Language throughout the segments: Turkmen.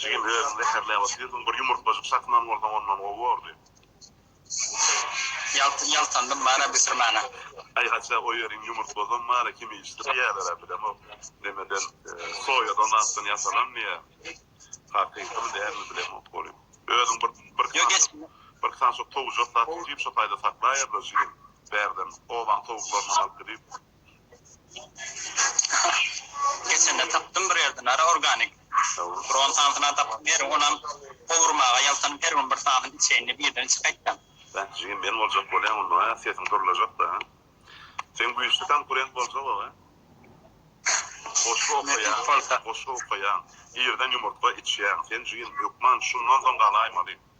Jigim özüň zeherläp otyrdyň bir ýumurtgajyk satman bolsaň ondan gowy bordy. Ýaltyn ýaltandym bana bisirimana. Aý haçja goýberiň ýumurtgazam bana kim işdir diýälerä bilemok nemeden soýa donatdan ýasalan diýä hakykymy dälmi bilemok goly özüň bir bir bir saçok towujak satyp diýip şo taýda saklaýarlar jigim bärden obaň towuklaryndan alyp gidip. Geçende tapdym bir ýerden ara organik dron sansyna tapyp her onam gowurmaga ýaltanyp her gün bir sanyny içeýin diýip ýerden çykaýtdam. Beh jigim men boljak bolýan onda a sesiň durlajakda a sen güýçli konkurent boljak ow a goşgy okaýaň goşgy okaýaň irden ýumurtga içýäň sen jigim hökman şundan soň galaýmaly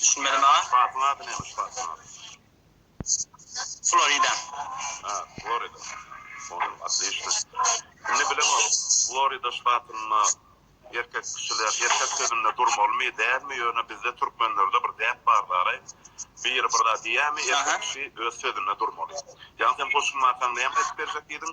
Düşünmedi maňa. Spatyň ady näme spatyň ady? Florida. Ha, Florida. Onam otlişno. Indi bilemok, Florida ştatynda erkek kişiler erkek sözünde durmalymy, dälmi, ýöne bizde türkmenlerde bir däp bar daraý, biri bir zat diýýämi, erkek kişi öz sözünde durmaly. Ýa sen goşulmasaň näme aýdyp berjek diýdiň?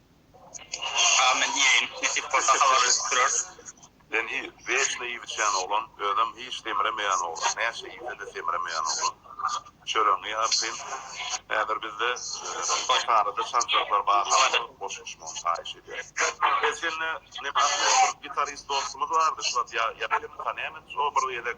Amin diýeýin. Nesip bolsa habarlaşyp durarys. Senhi wekle iýip içýän oglan, özem hiç semremeýän oglan, näçe iýsede semremeýän oglan. Çöregiňi artyn. Häzir bizde şarada çaljaklar barlygynda goşulyşmagyny haýyş edýäs. Her sende neme Ahmet bir gitarist dostumyz bardy şuwagt ýa ýa kim tanýaňyz o bir gezek.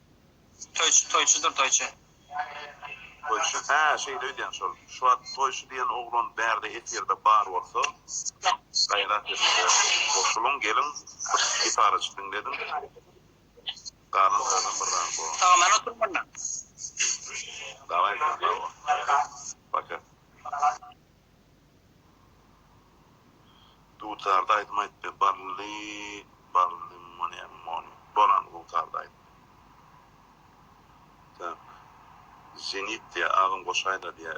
Toýçy toýçydyr toýçy. Toýçy hä şeýle öýdýän şol. Şuwagt toýçy diýen oglan bärde efirde bar bolsa gaýrat ediň-de goşulyň geliň bir gitarajyk diňlediň galan sözem bir rahat bolan. Salamana türkmenler. Daway sen sag bol. Paka. Dutarda aýdym aýt be bally bally money money bolan dutarda aýt. Zenit diýýä agam goşaýlar diýýä